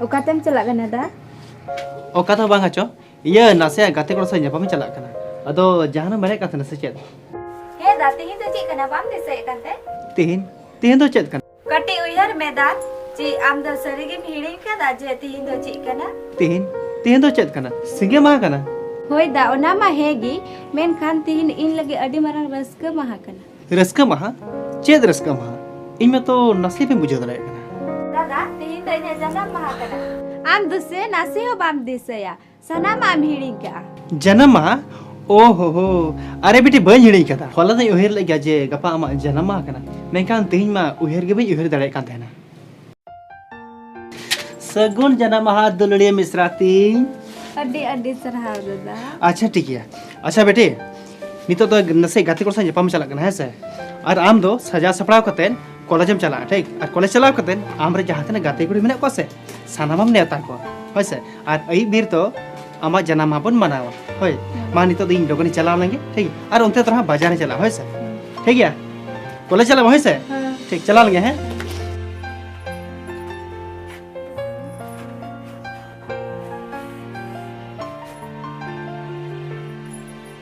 ᱚᱠᱟᱛᱮᱢ ᱪᱟᱞᱟᱜ ᱠᱟᱱᱟ ᱫᱟ ᱚᱠᱟ ᱫᱚ ᱵᱟᱝ ᱟᱪᱚ ᱤᱭᱟᱹ ᱱᱟᱥᱮᱭᱟᱜ ᱜᱟᱛᱮ ᱠᱚᱲᱟ ᱥᱟᱶ ᱧᱟᱯᱟᱢᱤᱧ ᱪᱟᱞᱟᱜ ᱠᱟᱱᱟ ᱟᱫᱚ ᱡᱟᱦᱟᱱᱟᱜ ᱢᱮᱱᱮᱫ ᱠᱟᱱ ᱛᱟᱦᱮᱱᱟ ᱥᱮ ᱪᱮᱫ ᱦᱮᱸ ᱫᱟ ᱛᱮᱦᱮᱧ ᱫᱚ ᱪᱮᱫ ᱠᱟᱱᱟ ᱵᱟᱢ ᱫᱤᱥᱟᱹᱭᱮᱫ ᱠᱟᱱ ᱛᱮ ᱛᱮᱦᱮᱧ ᱛᱮᱦᱮᱧ ᱫᱚ ᱪᱮᱫ ᱠᱟᱱᱟ ᱠᱟᱹᱴᱤᱡ ᱩᱭᱦᱟᱹᱨ ᱢᱮ ᱫᱟ ᱪᱮ ᱟᱢ ᱫᱚ ᱥᱟᱹᱨᱤᱜᱮᱢ ᱦᱤᱲᱤᱧ ᱠᱟᱫᱟ ᱡᱮ ᱛᱤᱦᱤᱧ ᱫᱚ ᱪᱮᱫ ᱠᱟᱱᱟ ᱛᱤᱦᱤᱧ ᱛᱤᱦᱤᱧ ᱫᱚ ᱪᱮᱫ ᱠᱟᱱᱟ ᱥᱤᱸᱜᱮ ᱢᱟᱦᱟ ᱠᱟᱱᱟ ᱦᱳᱭ ᱫᱟ ᱚᱱᱟ ᱢᱟ ᱦᱮᱸ ᱜᱮ ᱢᱮᱱᱠᱷᱟᱱ ᱛᱤᱦᱤᱧ ᱤᱧ ᱞᱟᱹᱜᱤᱫ ᱟᱹᱰᱤ ᱢᱟᱨᱟᱝ ᱨᱟᱹᱥᱠᱟᱹ ᱢᱟᱦᱟ ᱠᱟᱱᱟ ᱨᱟᱹᱥᱠᱟᱹ ᱢᱟᱦᱟ ᱪᱮᱫ ᱨᱟᱹᱥᱠᱟᱹ ᱢᱟᱦᱟ ᱤᱧ ᱢᱟᱛᱚ ᱱᱟᱥᱮ ᱵᱟᱹᱧ ᱵᱩᱡᱷᱟᱹᱣ ᱫᱟᱲᱮᱭᱟᱜ ᱠᱟᱱᱟ ᱫᱟᱫᱟ ᱛᱤᱦᱤᱧ ᱫᱚ ᱤᱧᱟᱹᱜ ᱡᱟᱱᱟᱢ ᱢᱟᱦᱟ ᱠᱟᱱᱟ ᱟᱢ ᱫᱚ ᱥᱮ ᱱᱟᱥᱮ ᱦᱚᱸ ᱵᱟᱢ ᱫᱤᱥᱟᱹᱭᱟ ᱥᱟᱱᱟᱢᱟᱜ ᱮᱢ ᱦᱤᱲᱤᱧ ᱠᱟᱜᱼᱟ ᱡᱟᱱᱟᱢ ᱢᱟᱦᱟ ᱳ ᱦᱳ ᱦᱳ ᱟᱨᱮ ᱵᱤᱴᱤ ᱵᱟᱹᱧ ᱦᱤᱲᱤᱧ ᱠᱟᱫᱟ ᱦᱚᱞᱟ ᱫᱚᱧ ᱩᱭᱦᱟᱹᱨ ᱞᱮᱫ ᱜᱮᱭᱟ ᱡᱮ ᱜᱟᱯᱟ ᱟᱢᱟᱜ ᱡᱟᱱᱟᱢ ᱢᱟᱦᱟ ᱠᱟᱱᱟ ᱢᱮᱱᱠᱷᱟᱱ ᱛᱮᱦᱮᱧ ᱢᱟ ᱩᱭᱦᱟᱹᱨ ᱜᱮ ᱵᱟᱹᱧ ᱩᱭᱦᱟᱹᱨ ᱫᱟᱲᱮᱭᱟᱜ ᱠᱟᱱ ᱛᱟᱦᱮᱱᱟ ᱥᱟᱹᱜᱩᱱ ᱡᱟᱱᱟᱢ ᱢᱟᱦᱟ ᱫᱩᱞᱟᱹᱲᱤᱭᱟᱹ ᱢᱤᱥᱨᱟ ᱛᱤᱧ ᱟᱹᱰᱤ ᱟᱹᱰᱤ ᱥᱟᱨᱦᱟᱣ ᱫᱟᱫᱟ ᱟᱪᱪᱷᱟ ᱴᱷᱤᱠ ᱜᱮᱭᱟ ᱟᱪᱪᱷᱟ ᱵᱮᱴᱤ ᱱᱤᱛᱚᱜ ᱫᱚ ᱱᱟᱥᱮ ᱜᱟᱛᱮ ᱠᱚ ᱥᱟᱶ ᱧᱟᱯᱟᱢ ᱪᱟᱞᱟᱜ ᱠᱟᱱᱟ ᱦᱮᱸ ᱥᱮ ᱟᱨ ᱟᱢ ᱫᱚ ᱥᱟᱡᱟᱣ ᱥᱟᱯᱲᱟᱣ ᱠᱟᱛᱮ ᱠᱚᱞᱮᱡᱽ ᱮᱢ ᱪᱟᱞᱟᱜᱼᱟ ᱴᱷᱤᱠ ᱟᱨ ᱠᱚᱞᱮᱡᱽ ᱪᱟᱞᱟᱣ ᱠᱟᱛᱮ ᱟᱢ ᱨᱮ ᱡᱟᱦᱟᱸ ᱛᱤᱱᱟᱹᱜ ᱜᱟᱛᱮ ᱠᱩᱲᱤ ᱢᱮᱱᱟᱜ ᱠᱚᱣᱟ ᱥᱮ ᱥᱟᱱᱟᱢᱟᱢ ᱱᱮᱣᱛᱟ ᱠᱚᱣᱟ ᱦᱳᱭ ᱥᱮ ᱟᱨ ᱟᱹᱭᱩᱵ ᱵᱤᱨ ᱫᱚ ᱟᱢᱟᱜ ᱡᱟᱱᱟᱢ ᱢᱟᱦᱟ ᱵᱚᱱ ᱢᱟᱱᱟᱣᱟ ᱦᱳᱭ ᱢᱟ ᱱᱤᱛᱚᱜ ᱫᱚ ᱤᱧ ᱞᱚᱜᱚᱱᱤᱧ ᱪᱟᱞᱟᱣ ᱞᱮᱱᱜᱮ ᱴᱷᱤᱠ ᱜᱮᱭᱟ ᱟᱨ ᱚᱱᱛᱮ ᱫᱚ ᱦᱟᱸᱜ ᱵᱟᱡᱟᱨ ᱤᱧ ᱪᱟᱞᱟᱜᱼᱟ ᱦᱳᱭ ᱥᱮ ᱴᱷᱤᱠ ᱜᱮᱭᱟ ᱠᱚᱞᱮᱡᱽ ᱪᱟᱞᱟᱜ ᱢᱟ ᱦᱳᱭ ᱥᱮ ᱴᱷᱤᱠ ᱪᱟᱞᱟᱣ ᱞᱮᱱᱜᱮ ᱦᱮᱸ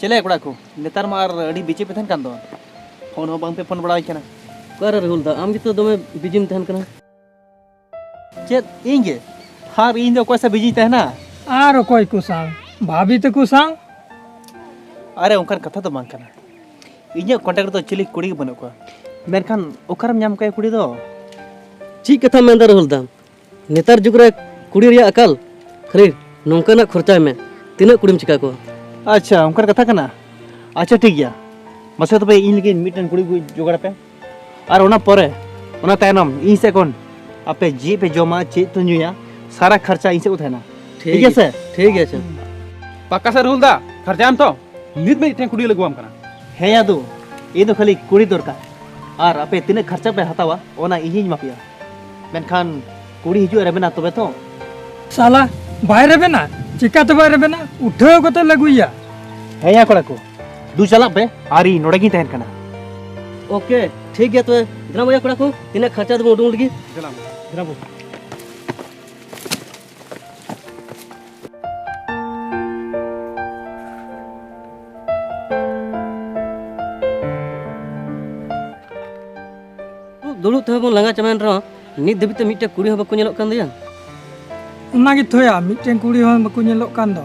ᱪᱮᱞᱮ ᱠᱚᱲᱟ ᱠᱚ ᱱᱮᱛᱟᱨ ᱢᱟ ᱟᱨ ᱟᱹᱰᱤ ᱵᱤᱪᱮ ᱯᱮ ᱛᱟᱦᱮᱱ ᱠᱟᱱ ᱫᱚ ᱯᱷᱳᱱ ᱦᱚᱸ ᱵᱟᱝ ᱯᱮ ᱯᱷᱳᱱ ᱵᱟᱲᱟᱣᱟᱹᱧ ᱠᱟᱱᱟ ᱚᱠᱟᱨᱮ ᱨᱟᱦᱩᱞ ᱫᱟ ᱟᱢ ᱜᱮᱛᱚ ᱫᱚᱢᱮ ᱵᱤᱡᱤᱢ ᱛᱟᱦᱮᱱ ᱠᱟᱱᱟ ᱪᱮᱫ ᱤᱧ ᱜᱮ ᱟᱨ ᱤᱧ ᱫᱚ ᱚᱠᱚᱭ ᱥᱟᱶ ᱵᱤᱡᱤᱧ ᱛᱟᱦᱮᱱᱟ ᱟᱨ ᱚᱠᱚᱭ ᱠᱚ ᱥᱟᱶ ᱵᱷᱟᱵᱤ ᱛᱟᱠᱚ ᱥᱟᱶ ᱟᱨᱮ ᱚᱱᱠᱟᱱ ᱠᱟᱛᱷᱟ ᱫᱚ ᱵᱟᱝ ᱠᱟᱱᱟ ᱤᱧᱟᱹᱜ ᱠᱚᱱᱴᱟᱠᱴ ᱨᱮᱫᱚ ᱪᱤᱞᱤ ᱠᱩᱲᱤ ᱜᱮ ᱵᱟᱹᱱᱩᱜ ᱠᱚᱣᱟ ᱢᱮᱱᱠᱷᱟᱱ ᱚᱠᱟᱨᱮᱢ ᱧᱟᱢ ᱠᱚᱣᱟ ᱠᱩᱲᱤ ᱫᱚ ᱪᱮᱫ ᱠᱟᱛᱷᱟᱢ ᱢᱮᱱᱫᱟ ᱨᱟᱦᱩᱞ ᱫᱟ ᱱᱮᱛᱟᱨ ᱡᱩᱜᱽ ᱨᱮ ᱠᱩᱲᱤ ᱨᱮᱭᱟᱜ ᱟᱠᱟᱞ ᱠᱷᱟᱹᱞᱤ ᱱᱚᱝᱠᱟᱱᱟᱜ ᱠᱷᱚᱨᱪᱟᱭ ᱢᱮ ᱛᱤᱱᱟᱹᱜ ᱠᱩᱲᱤᱢ ᱪᱤᱠᱟ ᱠᱚᱣᱟ ᱟᱪᱪᱷᱟ ᱚᱱᱠᱟᱱ ᱠᱟᱛᱷᱟ ᱠᱟᱱᱟ ᱟᱪᱪᱷᱟ ᱴᱷᱤᱠ ᱜᱮᱭᱟ ᱢᱟᱥᱮ ᱛᱚᱵᱮ ᱤᱧ ᱞᱟᱹᱜᱤᱫ ᱢᱤᱫᱴᱮᱱ ᱠᱩᱲᱤ ᱠᱚ ᱡᱚᱜᱟᱲ ᱯᱮ ᱟᱨ ᱚᱱᱟ ᱯᱚᱨᱮ ᱚᱱᱟ ᱛᱟᱭᱱᱚᱢ ᱤᱧ ᱥᱮᱫ ᱠᱷᱚᱱ ᱟᱯᱮ ᱪᱮᱫ ᱯᱮ ᱡᱚᱢᱟ ᱪᱮᱫ ᱯᱮ ᱧᱩᱭᱟ ᱥᱟᱨᱟ ᱠᱷᱚᱨᱪᱟ ᱤᱧ ᱥᱮᱫ ᱠᱚ ᱛᱟᱦᱮᱱᱟ ᱴᱷᱤᱠ ᱜᱮᱭᱟ ᱥᱮ ᱴᱷᱤᱠ ᱜᱮᱭᱟ ᱟᱪᱪᱷᱟ ᱯᱟᱠᱟ ᱥᱮ ᱨᱩᱞ ᱫᱟ ᱠᱷᱚᱨᱪᱟᱭᱟᱢ ᱛᱚ ᱱᱤᱛ ᱢᱤᱫᱴᱮᱱ ᱠᱩᱲᱤ ᱞᱟᱹᱜᱩᱣᱟᱢ ᱠᱟᱱᱟ ᱦᱮᱸ ᱭᱟᱫᱩ ᱤᱧ ᱫᱚ ᱠᱷᱟᱹᱞᱤ ᱠᱩᱲᱤ ᱫᱚᱨᱠᱟᱨ ᱟᱨ ᱟᱯᱮ ᱛᱤᱱᱟᱹᱜ ᱠᱷᱚᱨᱪᱟ ᱯᱮ ᱦᱟᱛᱟᱣᱟ ᱚᱱᱟ ᱤᱧᱤᱧ ᱮᱢᱟ ᱯᱮᱭᱟ ᱢᱮᱱᱠᱷᱟᱱ ᱠᱩᱲᱤ ᱦᱤᱡᱩᱜ ᱨᱮᱵᱮᱱᱟ ᱛᱚᱵᱮ ᱛᱚ ᱥᱟᱞᱟ ᱵᱟᱭ ᱨᱮᱵᱮᱱᱟ ᱪᱤᱠᱟ ᱛᱮ ᱵᱟᱭ ᱨᱮᱵᱮᱱᱟ ᱩᱴᱷᱟᱹᱣ ᱠᱟᱛᱮ ᱞᱟᱹᱜᱩᱭᱟ ᱦᱮᱸ ᱭᱟ ᱠᱚᱲᱟ ᱠᱚ ᱫᱩ ᱪᱟᱞᱟᱜ ᱯᱮ ᱟᱨ ᱤᱧ ᱱᱚᱰᱮ ᱜᱤᱧ ᱛᱟᱦᱮᱱ ᱠᱟᱱᱟ ᱳᱠᱮ ᱴᱷᱤᱠ ᱜᱮᱭᱟ ᱛᱚᱵᱮ ᱫᱮᱞᱟ ᱵᱚᱭᱟ ᱠᱚᱲᱟ ᱠᱚ ᱛᱤᱱᱟᱹᱜ ᱠᱷᱟᱨᱪᱟ ᱫᱚᱵᱚᱱ ᱩᱰᱩᱝ ᱞᱟᱹᱜᱤᱫ ᱫᱮᱞᱟ ᱵᱚ ᱫᱩᱲᱩᱵ ᱛᱮᱦᱚᱸ ᱵᱚᱱ ᱞᱟᱸᱜᱟ ᱪᱟᱵᱟᱭᱮᱱ ᱨᱮᱦᱚᱸ ᱱᱤᱛ ᱫᱷᱟᱹᱵᱤᱡ ᱛᱮ ᱢᱤᱫᱴᱮᱱ ᱠᱩᱲᱤ ᱦᱚᱸ ᱵᱟᱠᱚ ᱧᱮᱞᱚᱜ ᱠᱟᱱ ᱫᱚᱭᱟ ᱚᱱᱟ ᱜᱮ ᱛᱷᱚᱭᱟ ᱢᱤᱫᱴᱮᱱ ᱠᱩᱲᱤ ᱦᱚᱸ ᱵᱟᱠᱚ ᱧᱮᱞᱚᱜ ᱠᱟᱱ ᱫᱚ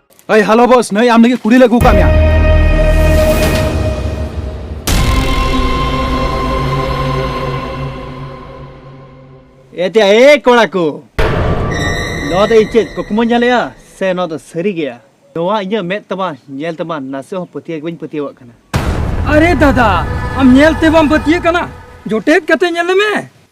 ᱦᱮᱸ ᱦᱮᱞᱳ ᱵᱚᱥ ᱱᱟᱹᱭ ᱟᱢ ᱞᱟᱹᱜᱤᱫ ᱠᱩᱲᱤ ᱞᱮ ᱟᱹᱜᱩ ᱠᱟᱜ ᱢᱮᱭᱟ ᱮᱛᱮ ᱮ ᱠᱚᱲᱟ ᱠᱚ ᱱᱚᱣᱟ ᱫᱚ ᱤᱧ ᱪᱮᱫ ᱠᱩᱠᱢᱩᱧ ᱧᱮᱞᱮᱜᱼᱟ ᱥᱮ ᱱᱚᱣᱟ ᱫᱚ ᱥᱟᱹᱨᱤ ᱜᱮᱭᱟ ᱱᱚᱣᱟ ᱤᱧᱟᱹᱜ ᱢᱮᱫ ᱛᱟᱢᱟ ᱧᱮᱞ ᱛᱟᱢᱟ ᱱᱟᱥᱮ ᱦᱚᱸ ᱯᱟᱹᱛᱭᱟᱹᱣ ᱜᱮ ᱵᱟᱹᱧ ᱯᱟᱹᱛᱭᱟᱹᱣᱟᱜ ᱠᱟᱱᱟ ᱟᱨᱮ ᱫᱟᱫᱟ ᱟᱢ ᱧᱮᱞ ᱛᱮ ᱵᱟᱢ ᱯᱟᱹᱛᱭᱟᱹᱜ ᱠᱟᱱᱟ ᱡᱚᱴᱮᱫ ᱠᱟᱛᱮ ᱧᱮᱞ ᱢᱮ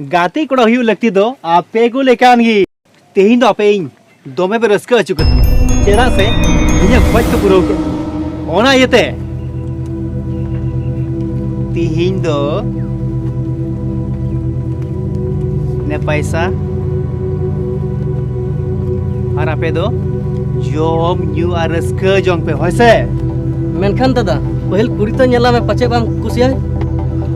ᱜᱟᱛᱮ ᱠᱚᱲᱟ ᱦᱩᱭᱩᱜ ᱞᱟᱹᱠᱛᱤ ᱫᱚ ᱟᱯᱮ ᱠᱚ ᱞᱮᱠᱟᱱ ᱜᱮ ᱛᱮᱦᱮᱧ ᱫᱚ ᱟᱯᱮ ᱤᱧ ᱫᱚᱢᱮ ᱯᱮ ᱨᱟᱹᱥᱠᱟᱹ ᱦᱚᱪᱚ ᱠᱟᱹᱫᱤᱧᱟ ᱪᱮᱫᱟᱜ ᱥᱮ ᱤᱧᱟᱹᱜ ᱠᱷᱚᱡ ᱠᱚ ᱯᱩᱨᱟᱹᱣ ᱠᱮᱫ ᱚᱱᱟ ᱤᱭᱟᱹᱛᱮ ᱛᱮᱦᱮᱧ ᱫᱚ ᱱᱮ ᱯᱟᱭᱥᱟ ᱟᱨ ᱟᱯᱮ ᱫᱚ ᱡᱚᱢ ᱧᱩ ᱟᱨ ᱨᱟᱹᱥᱠᱟᱹ ᱡᱚᱝ ᱯᱮ ᱦᱳᱭ ᱥᱮ ᱢᱮᱱᱠᱷᱟᱱ ᱫᱟᱫᱟ ᱯᱟᱹᱦᱤᱞ ᱠᱩᱲᱤ ᱛᱚ ᱧᱮᱞᱟᱢᱮ ᱯᱟᱪᱮᱫ ᱵᱟᱢ ᱠᱩᱥᱤᱭᱟᱭ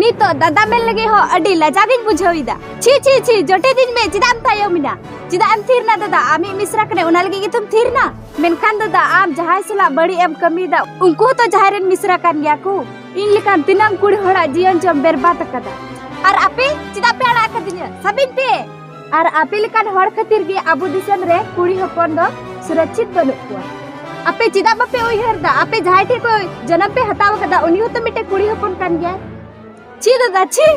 ᱱᱤᱛᱚᱜ ᱫᱟᱫᱟ ᱢᱮᱱ ᱞᱟᱹᱜᱤᱫ ᱦᱚᱸ ᱟᱹᱰᱤ ᱞᱟᱡᱟ ᱜᱤᱧ ᱵᱩᱡᱷᱟᱹᱣ ᱮᱫᱟ ᱪᱷᱤ ᱪᱷᱤ ᱪᱷᱤ ᱡᱚᱴᱮ ᱫᱤᱧ ᱢᱮ ᱪᱮᱫᱟᱜ ᱮᱢ ᱛᱟᱭᱚᱢ ᱮᱱᱟ ᱪᱮᱫᱟᱜ ᱮᱢ ᱛᱷᱤᱨ ᱮᱱᱟ ᱫᱟᱫᱟ ᱟᱢᱤᱡ ᱢᱤᱥᱨᱟ ᱠᱟᱱᱟᱭ ᱚᱱᱟ ᱞᱟᱹᱜᱤᱫ ᱜᱮᱛᱚᱢ ᱛᱷᱤᱨ ᱮᱱᱟ ᱢᱮᱱᱠᱷᱟᱱ ᱫᱟᱫᱟ ᱟᱢ ᱡᱟᱦᱟᱸᱭ ᱥᱟᱞᱟᱜ ᱵᱟᱹᱲᱤᱡ ᱮᱢ ᱠᱟᱹᱢᱤᱭᱮᱫᱟ ᱩᱱᱠᱩ ᱦᱚᱸᱛᱚ ᱡᱟᱦᱟᱸᱭ ᱨᱮᱱ ᱢᱤᱥᱨᱟ ᱠᱟᱱ ᱜᱮᱭᱟ ᱠᱚ ᱤᱧ ᱞᱮᱠᱟᱱ ᱛᱤᱱᱟᱹᱝ ᱠᱩᱲᱤ ᱦᱚᱲᱟᱜ ᱡᱤᱭᱚᱱ ᱪᱚᱢ ᱵᱮᱨᱵᱟᱫ ᱟᱠᱟᱫᱟ ᱟᱨ ᱟᱯᱮ ᱪᱮᱫᱟᱜ ᱯᱮ ᱟᱲᱟᱜ ᱟᱠᱟᱫᱤᱧᱟ ᱥᱟᱵᱤᱧ ᱯᱮ ᱟᱨ ᱟᱯᱮ ᱞᱮᱠᱟᱱ ᱦᱚᱲ ᱠᱷᱟᱹᱛᱤᱨ ᱜᱮ ᱟᱵᱚ ᱫᱤᱥᱚᱢ ᱨᱮ ᱠᱩᱲᱤ ᱦᱚᱯᱚᱱ ᱫᱚ ᱥᱩᱨᱚᱠᱪᱷᱤᱛ ᱵᱟᱹᱱᱩᱜ ᱠᱚᱣᱟ ᱟᱯᱮ ᱪᱮᱫᱟᱜ ᱵᱟᱯᱮ ᱩᱭᱦᱟᱹᱨ ᱫᱟ ᱟᱯᱮ ᱡᱟᱦᱟᱸᱭ ᱴᱷᱮᱱ ᱯᱮ ᱡᱚᱱᱚᱢ ᱯᱮ ᱦᱟᱛᱟᱣ ᱠᱟᱫᱟ ᱩᱱᱤ ᱦᱚᱸᱛᱚ ᱢᱤᱫᱴᱮᱱ ᱠᱩᱲᱤ ᱦᱚᱯᱚᱱ ᱠᱟᱱ ᱜᱮᱭᱟᱭ ᱪᱮᱫ ᱫᱟᱫᱟ ᱪᱮᱫ